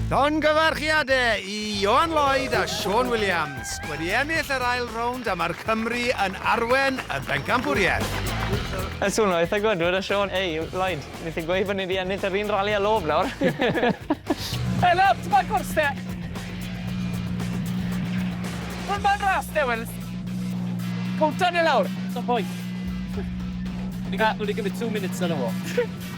Llongyfarchiadau i Ioan Lloyd a Siôn Williams, wedi ennill yr ail rownd a mae'r Cymry yn arwen y bencampwriaeth. Yn swnio eitha gwd, dwedodd Siôn, Ei, Lloyd, ni sy'n gweud bod ni 'di ennill yr un rali â Loeb nawr! Hey Loeb, ti'n moyn cwrs te? Wel, mae'n ras de, wel, cowta ni lawr. Sim pwynt. Ni wedi cymryd two minutes arno fo.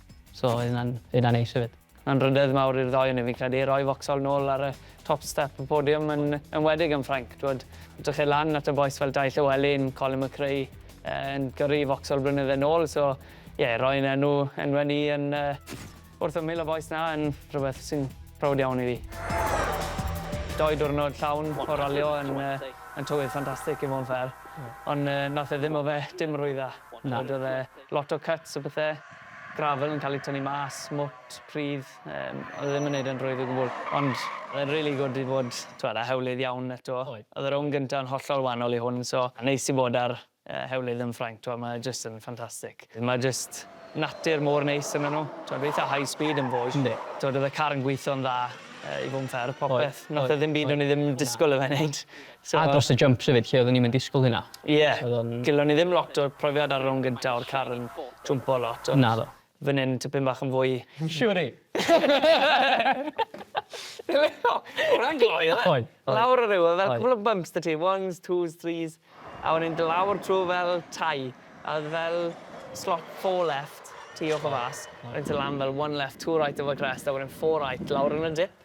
So oedd hynna'n hynna'n neis hefyd. Mae'n ryddedd mawr i'r ddoi onyn ni fi'n credu, rhoi Vauxhall nôl ar y top step y podiwm yn enwedig yn Ffrainc. T'wod, edrychai lan at y bois fel Dai Llewelyn, Colin McRae yy yn gyrru Vauxhall blynydde nôl so ie roi'n enw enwe ni yn yy wrth ymyl y bois 'na yn rhywbeth sy'n prowd iawn i fi. Doi diwrnod llawn o ralio yn yy yn tywydd ffantastic i fo' yn fair. Ond yy nath e ddim o fe dim rwy dda. Na. T'wod o'dd e Lot o cuts a pethe. Gravel yn cael ei tynnu mas, mwt, pridd, yym, oedd e ddim yn neud e'n rwydd o gwbwl. Ond oedd e'n rili gwd i fod, t'wod, ar hewlydd iawn eto. Oedd. Oedd y rownd gynta yn hollol wanol i hwn, so ma'n neis i fod ar yy hewlydd yn Ffrainc, t'wod, mae e jyst yn ffantastig. Mae jyst natur mor neis ynddo nhw. T'wod, eitha high speed yn Vosges. Yndi. T'wod, oedd y car yn gweitho'n dda yy i fod yn fair, popeth. Oedd, oedd. Nath e ddim byd o'n i ddim yn disgwl i fe neud. So... A dros y jumps hefyd, lle oeddwn ni'm yn disgwyl hynna. Ie. So odd o'n... Gellon ni ddim lot o profiad ar y rownd gynta o'r car yn jwmpo lot ond... Naddo. ...fyn 'yn tipyn bach yn fwy. Siŵr i. O'dd e'n gloi o'dd e? Oedd. Lawr y rhewl fel cwpwl o bumps 'da ti ones, twos, threes a wedyn do' lawr trw fel tai a o'dd fel slot four left tu off a fas a wedyn do' lan fel one left two right over crest a wedyn four right lawr yn y dip.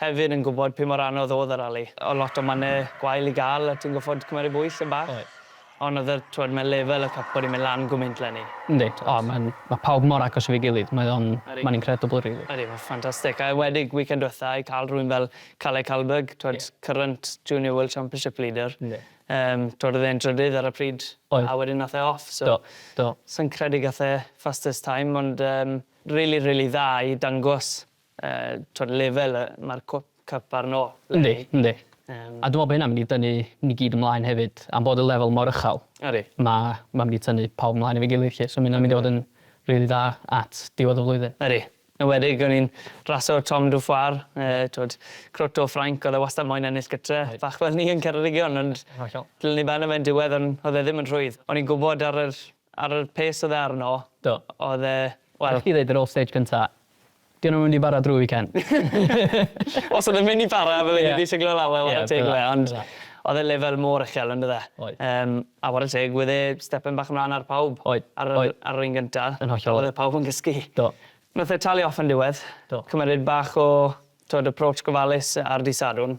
Hefyd yn gwybod pum mor anodd oedd y rali. Oedd lot o mannau gwael i gael a ti'n gorfod cymeryd bwys yn bach. Oedd. Ond oedd y, t'wod, mae lefel y cwp wedi mynd lan gwmynt 'lenni. Yndi. O, mae'n, mae pawb mor agos efo'i gilydd, mae o'n, mae'n incredible rili. Ydi, mae'n ffantastig. A enwedig weekend dwetha i cael rhywun fel Kalle Kallberg, t'wod, current junior world championship leader. Yndi. Yym, t'wod, oedd e'n drydydd ar y pryd. Oedd. A wedyn nath e off, so. Do, do. Sai'n credu gath e fastest time, ond yym rili, rili dda i dangos Yy t'od lefel yy ma'r cwp cyp arno le ni. Yndi yndi. Yym. A dwi me'wl bo' hynna'n mynd i dynnu ni gyd ymlaen hefyd am bod y lefel mor ychal. Ydi. Ma' ma' mynd i tynnu pawb ymlaen efo'i gilydd 'lly so ma' ynna'n mynd i fod yn rili dda at diwedd y flwyddyn. Ydi. Yn enwedig o'n i'n raso Tom Dufoir yy t'wod crwt o Ffrainc o'dd e wastad moyn ennill gytre bach fel ni yn Ceredigion ond... Hollol. ...dylwn i ben e fe yn diwedd on' o'dd e ddim yn rhwydd. O'n i'n gwbod ar yr Ar yr pace oedd e arno. Do. Oedd e, wel... Allech chdi ddeud yr off-stage cynta, 'Di hwn yn mynd i bara drwy weekend? Os oedd e'n mynd i bara fydden i 'di siglo lawr a ware teg i fe ond oedd e lefel mor uchel on'd oedd e? Oedd. Yym a ware teg wedd e stepen bach ymlan ar pawb. Oedd. Ar yr ar yr un gynta. Yn hollol. Oedd e pawb yn gysgu. Do. Nath e talu off yn diwedd. Do. Cymered bach o t'wod approach gofalus ar dy' Sadwrn.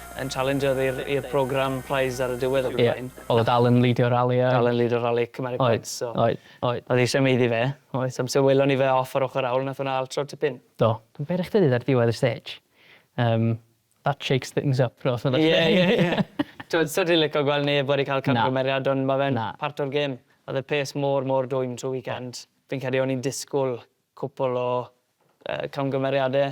yn challenger i'r program prize ar y diwedd ac yn y blaen. Ie, oedd o dal yn lidio rali a... Dal yn lidio rali Cymru Points so... Oedd, oedd, oedd. Oedd eisiau meiddi fe, oedd, amser welon ni fe off ar ochr awl wnaeth hwnna altro'r tipyn. Do. Dwi'n beryg chdi ar ddiwedd y stage. Yym, that shakes things up os na beth. Ie, ie, ie. T'wod, sa ti'n licio gweld neb wedi cael camgymeriad ond ma' fe'n part o'r gêm. Oedd y pace mor, mor dwym trwy weekend. Fi'n credu o'n i'n disgwyl cwpwl o yy camgymeriadau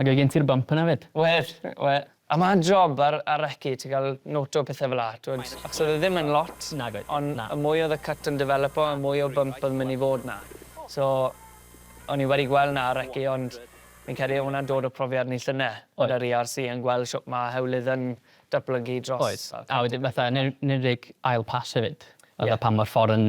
Ac oedd gen ti'r bump yna 'fyd? Wedd, we- a ma' job ar ar reci ti ga'l noto pethe fel 'a t'wod achos oedd e ddim yn lot... Nag oedd, na. ...on' y mwy oedd y cyt yn defelypo y mwy o bump oedd yn myn' i fod 'na so o'n i wedi gwel' 'na ar reci ond fi'n credu o' wnna'n dod o profiad ni llyne... Oedd. ...gyda'r Ee Are See yn gwel' shwt ma' hewlydd yn datblygu dros... Oedd a wedyn fatha yn en- enwedig ail pas hefyd. Ie. Fatha pan ma'r ffor yn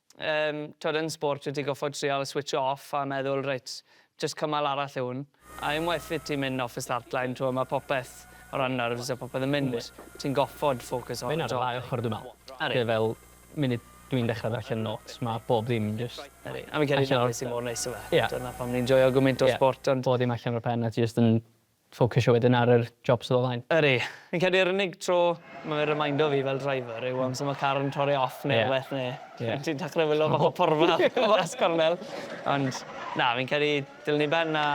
Yym, t'od yn sport wyt ti goffod trial switsio off a meddwl reit, jyst cymal arall yw hwn. A unwaith wyt ti'n mynd off y start line t'mo' ma' popeth o ran nerves a popeth yn mynd. Ti'n goffod ffocws ar y top. Ma' hyn ar y ddau ochor dwi me'wl. Ydi. Lle fel munud dwi'n dechre ddarllen notes ma' bob dim jyst... Ydi. A fi'n credu dyna be' sy mor neis o fe. Ie. Dyna pam ni'n joio gymint o sport ond... Bob dim allan o'r pen a ti jyst yn Ffocysio wedyn ar yr job sydd o flaen. Ydy. Fi'n credu yr unig tro ma' fe'n remeindo fi fel driver yw amser ma' car yn torri off neu rwbeth neu... Ie. ...ti'n ti'n dechre wilo fath o porfa o fas cornel. Ond na, fi'n credu dilyn i ben a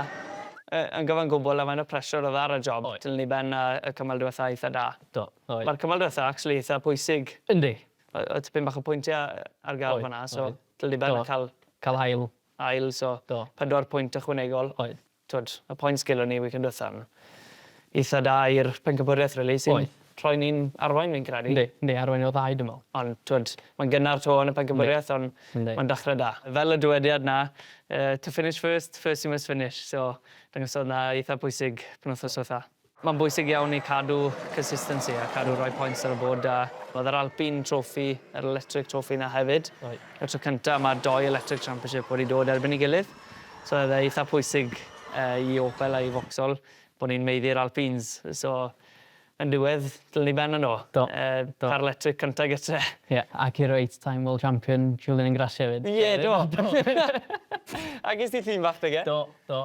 yy yn gyfan gwbwl a faint o pressure odd ar y job... Oedd. ...dilyn i ben a y cymal dwetha eitha da. Do, oedd. Ma'r cymal dwetha actually eitha pwysig. Yndi. O- oedd tipyn bach o pwyntie a- ar gael fan 'na so... Oedd, oedd. ...dilyn i ben a ca'l... Ca'l ail. ...ail so... Do. ...pedwar pwynt ychwanegol. Oedd. Twod, y point gelon ni weekend dwetha'n eitha da i'r pencampwriaeth rili sy'n... Oedd. ...rhoi ni'n arwain fi'n credu. Yndi, yndi, arwain o'r ddau dwi me'wl. Ond t'wod, mae'n gynnar 'to yn y pencampwriaeth on'... Yndi. ...mae'n dachre da. Fel y dywediad 'na yy to finish first, first you must finish so dangosodd 'na eitha pwysig penwthnos dwetha. Mae'n bwysig iawn i cadw consistency a cadw rhoi points ar y bord da. Oedd yr Alpine Trophy, yr Electric Trophy 'na hefyd. Reit. Y tro cynta ma'r dou Electric Championship wedi dod erbyn 'i gilydd. So oedd e eitha pwysig yy i Opel a i Vauxhall bo' ni'n maeddu'r Alpines. So yn diwedd ddylen ni ben yno. Do. Yy do. Car electric cynta gytre. Ie, ac i'r eight time world champion Julian Ingrassia 'fyd. Ie, do. Agos ti llun fach 'da fe. Do, do.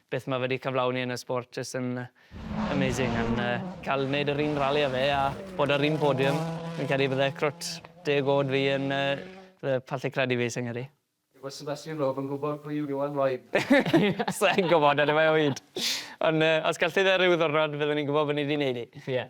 Beth mae fe 'di cyflawni yn y sport jyst yn amazing and yy cael neud yr un rali â fe a bod ar un podium fi'n credu bydde crwt deg o'd fi yn yy bydde pallu credu fi sa i'n credu. Yw y Sebastian Loeb yn gwybod pwy yw Iwan Lloyd? Sa i'n gwybod, eniwe o hyd. Ond yy os gallith e ryw ddiwrnod fyddwn ni'n gwybod bod ni 'di neud hi. Ie.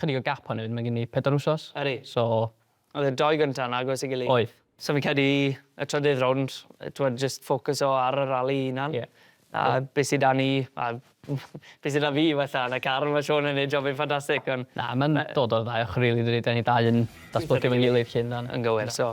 Chydig o gap hefyd, mae gen i pedwar wsos. Ydy. So... Oedd y dou gynta yn agos i gilydd. Oedd. So fi'n credu y trydydd rownd, t'mod jyst ffocyso ar y rali 'i hunan. Ie. A be' sy 'da ni a be' sy 'da fi wella yn y car, ma' Sean yn neud job yn ffantastic on'... Na ma'n dod o'r ddau ochor rili dydi? 'Da ni dau yn datblygu efo'n gilydd 'lly yndan? Yn gywir so